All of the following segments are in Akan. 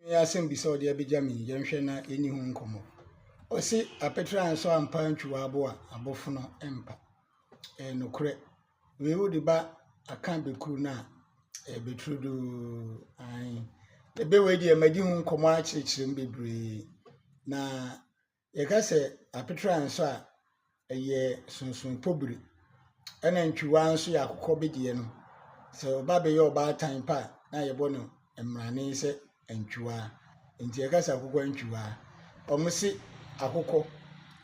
Ɛyɛ asɛm bi sɛ ɔde abɛgya me yi, yɛnhwɛ na yɛnni ho nkɔmmɔ. Ɔse apɛtire ansɔ ampa antwi w'abo a, abofono mpa. Ɛyɛ nokorɛ. Wei wode ba aka bɛkuru no a, ɛyɛ bɛturu doo. Ae. Ɛbɛ wei deɛ madi ho nkɔmmɔ akyerɛkyerɛ mu bebree. Na Yɛka sɛ apetra nso a, ɛyɛ sonsonopo biri, ɛna ntwiwa nso yɛ akokɔ bedeɛ no. Sɛ ɔba bɛyɛ ɔbaatan pa a, na yɛbɔ no mmrane sɛ antwiwa. Nti yɛka sɛ akokɔ antwiwa. Wɔn se akokɔ,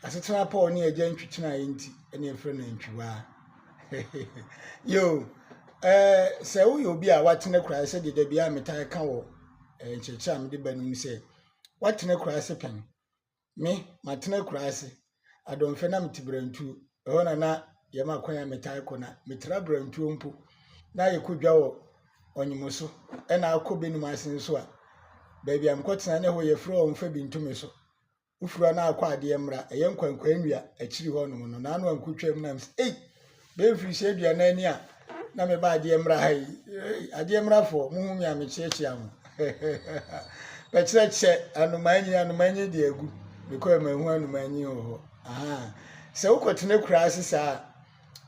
asetena pɔw ne agya ntwitinaeɛ nti, ɛna yɛfrɛ no antwiwa. Yoo, ɛɛ sɛ woyɛ obi a watena kura sɛ deɛ dabi a metaa ka wɔ nkyerɛkyerɛ a mede ba no mu sɛ, watena kura ase pɛn. Me, matena akuraa ase, Adomfɛ na mete Brantuo. Ɛhɔ na na yɛma kwan a metaa kɔ na metra Brantuo mpo na yɛkɔ dwa wɔ Ɔnyemo so ɛna akɔ Benum ase nso a baabi a mekɔtena ne hɔ yɛfrɛ wɔ mfa bintume so. Wofiri hɔ na akɔ adeɛ mmra ɛyɛ nkwankwaa nnua akyiri hɔnom no na ano ankɔtwam na msi ei Bɛyɛ mfirihyia aduanan ni a na meba adeɛ mmra ha yi. Adeɛ mmrafoɔ, mo hu me a mekyeakyea mo. Bɛkyerɛ kyɛ anomaa nyi, anomaa nyi deɛ agu. Mekɔ yɛ mahu anomaa nyi wɔ hɔ. Sɛ wokɔtena kura ase saa a,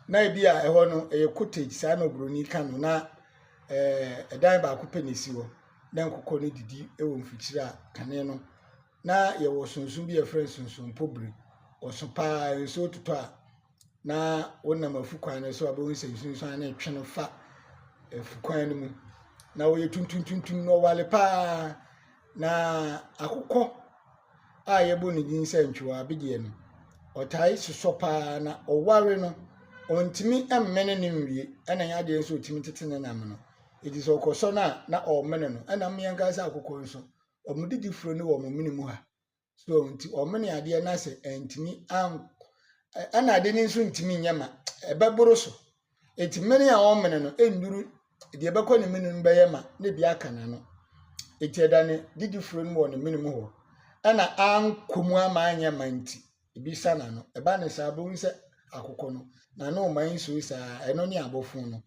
na ebi a ɛhɔ no ɛyɛ cottage saa na oburoni ka no na ɛdan eh, baako pɛ na esi hɔ na nkokɔ no didi wɔ mfikyiri a kane no na yɛwɔ sunsun bi a yɛfrɛ no sunsun mpobiri ɔso paa nsuo totɔ a na wonam afukwan no so a wobɛhu sɛ nsunsuan no retwe no fa afukwan no mu na wɔyɛ tuntuntuntun na ɔwale paa na akokɔ a yɛbɔ ne din sɛ ntwewa abedeɛ no ɔtae sosɔ paa na ɔware no ɔntumi mmene ne nwie ɛna nyɛ adeɛ nso ɔtumi tete ne nam no ɛti sɛ ɔkɔsɔ no a na ɔmene no ɛna mmeɛnka sɛ akokɔ nso wɔn didi furo ne wɔn mene mu ha so nti ɔmene adeɛ na sɛ ɛntumi ɛna ade no nso ntumi nyɛ ma ɛbɛboro so ɛti mene a ɔmene no ɛnduru deɛ ɛbɛkɔ ne mene no bɛyɛ ma ne bi aka n'ano ɛti ɛda ne didifoɔ no wɔ ne mene mu hɔ ɛna ankɔ mu ama anyɛ ma nti ebi sa n'ano ɛba ne saa bɛhu sɛ akokɔ no n'ano ɔma nsuo saa ɛno ne abɔfo no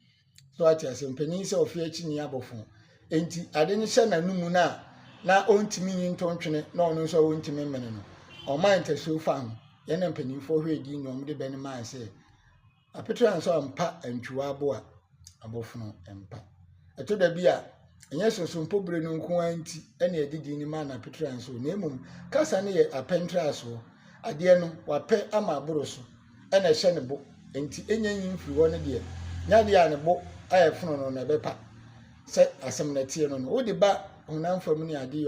So wate ase? Mpanyin sɛ ɔfe akyi ni abɔfo. Enti ade no hyɛ n'anum no a na ɔntumi nyi ntontwene na ɔno nso a ɔntumi mmene no. Ɔmaa ntasuo fa ho. Yɛn na mpanimfoɔ hwɛ edin na wɔde bɛ no maa sɛ apetra nso ampa antwiwa aboa abɔfono mpa. Ɛtɔ da bi a ɛnyɛ sosompo bere no nko ara nti ɛne ɛde din no maa no apetra nso na mmom kasa no yɛ apɛntrasoɔ adeɛ no wapɛ ama aboro so na ɛhyɛ ne bo nti ɛnya nyi mfiri hɔ no deɛ, nya adeɛ a ne bo ayɛ fononoo na ɛbɛpa sɛ asɛm no teɛ no no, wode ba honam fam ne adeɛ